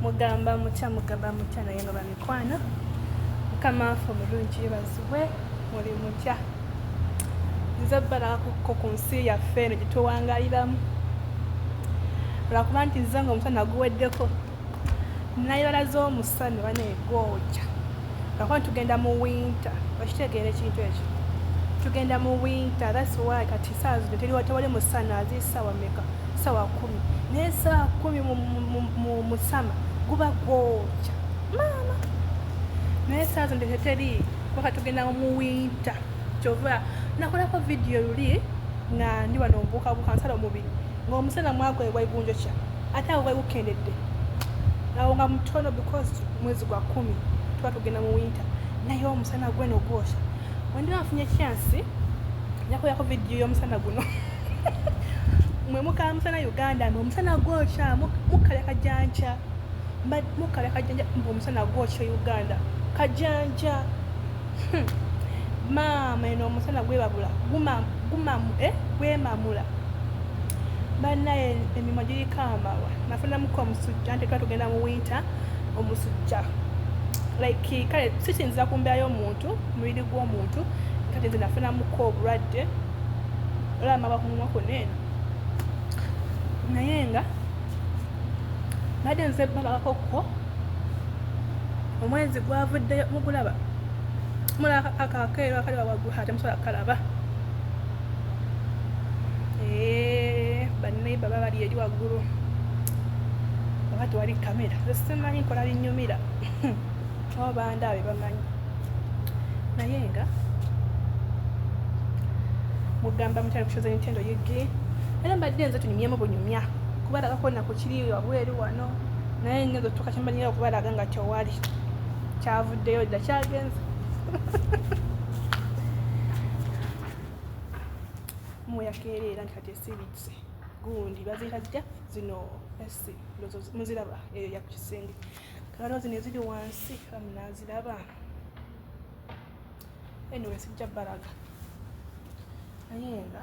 mugamba mutya mugamba mutya naye nga bamikwana mukamaafe omulungi yebazibwe muli mutya nze balakuko ku nsi yaffe eno gyetuwangaliramu lwakuba nti nze nga omusana naguweddeko nayibala z'omusana bana egwokya Kakuba tugenda mu winter, okitegeera ekintu ekyo? Tugenda mu winter, that's why kati saa zino teliwa tewali musana azi sawa meka sawa kumi naye saa kumi mu musama guba gwokya maama naye saa zino teteri kuba katugenda mu winter kyova nakolako vidiyo luli nga ndi wano mbuukabuuka nsala omubiri ngaomusana mwagwebwa igunjo kya ate awo wewukendedde awo nga mutono because mwezi gwa kumi tuba tugenda mu winter naye omusana gweno gwosha wendiba afunye kyansi nyakoyako vidiyo y'omusana guno mwe mukala musana uganda mwe omusana gwokya mukala kajanja mukala kajanja mwe omusana gwokya uganda kajanja Hmm. maama eno omusana gwebabula eh, gwemamula banaye emimo giriko amawa nafunamuko omusujja nti twa tugenda mu winter omusujja like kale sikinzira ku mbeera y'omuntu mubiri gw'omuntu kati nze nafunamuko obulwadde olaba maba ku mumwa kwonna eno naye nga badde nze balabakokko omwezi gwavuddeyo mugulaba mulaba akakeero akali wawaggulu ate musobola kukalaba eh, baneiba babali eri waggulu oba tewali kamera simanyi nkola binyumira oba bandaabe bamanyi naye nga mugamba mukyali kushoza nintendo yigi era mbadde nze tunyumyemu bunyumya kubalagako nakukiri wabweru wano naye ngenza otuuka kyemanyira okubalaga nga tewali kyavuddeyo dda kyagenza muyakeereera nti kati esibitse gundi baziyita zitya zino esi muziraba eyo yakukisenge kakano zino eziri wansi amunaziraba anyway sijja balaga naye nga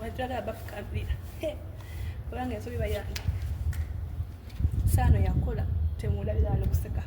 wajjala abafukabira kubanga ensobi bayange saano yakola temulabira alokuseka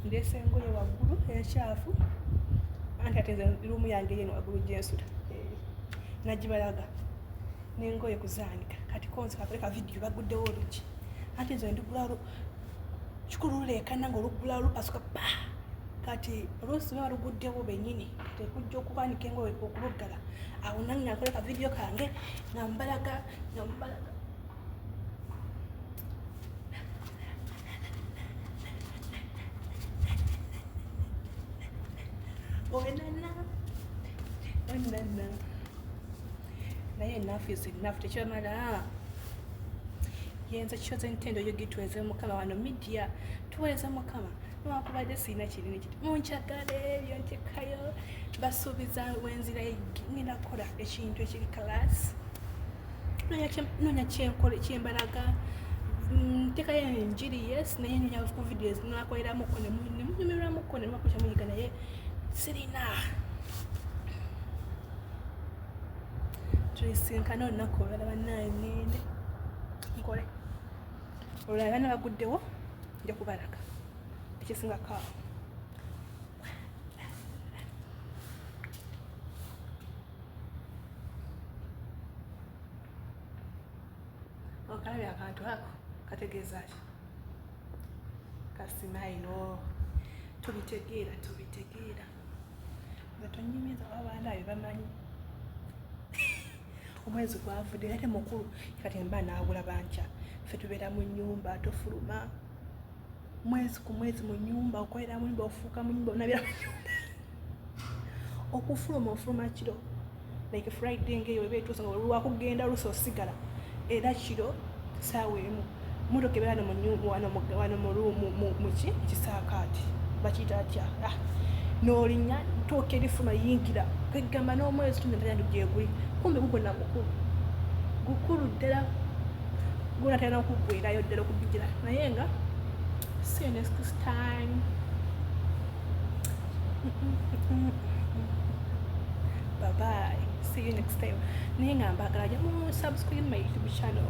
ndeese engoye waggulu enkyafu anti ate nze luumu yange yeno waggulu gyensula nagibalaga nengoye kuzaanika kati konzi kakole ka vidiyo baguddewo oluki anti nze ndigula kikulu luleekana nga olugula lupasuka pa kati olusi luba luguddewo benyini kati ekujja okubaanika engoye okubuggala awo nange nakola ka vidiyo kange nga mbalaga nga mbalaga owenana owenana naye enafu is enafu tekyamala yenza kyoza entendo yo gitweze mukama wano midia tuweze mukama newakubadde sirina kinene kiti munkyagala ebyo ntekayo basuubiza wenzira ngenda kukola ekintu ekiri kalaasi nonya kyenkole kyembalaga ntekayo mm, enjiri yes naye nonya ku videos nakoleramuko nemunyumiramuko nemakuca muyiga naye sirina tulisinkana olunaku olwala banaye ngende nkole olwala bana baguddewo nja kubalaga ekisinga kaawo okalabye akantu ako kategeeza ki kasimayiro tubitegeera tubitegeera nga tonyumiza wabandaayo bamanyi omwezi gwavudde ate mukulu kati mba naagula bankya ffe tubeera mu nyumba tofuluma mwezi ku mwezi mu nyumba okolera mu nyumba ofuuka mu nyumba onabira mu nyumba okufuluma ofuluma kiro like friday ngaeyo eba etuuse nga olwakugenda olusa osigala era kiro saawa emu motoka ebeera wano muki kisaakaati bakiyita atya ah, nolinya tuuka erifuma yingira kwegamba n'omwezi tunatalina gyeguli kumbe gugona mukulu gukulu ddala gona talina okugwerayo ddala okubigira naye nga see next time bye bye see you next time naye nga mbagala jamu subscribe my youtube channel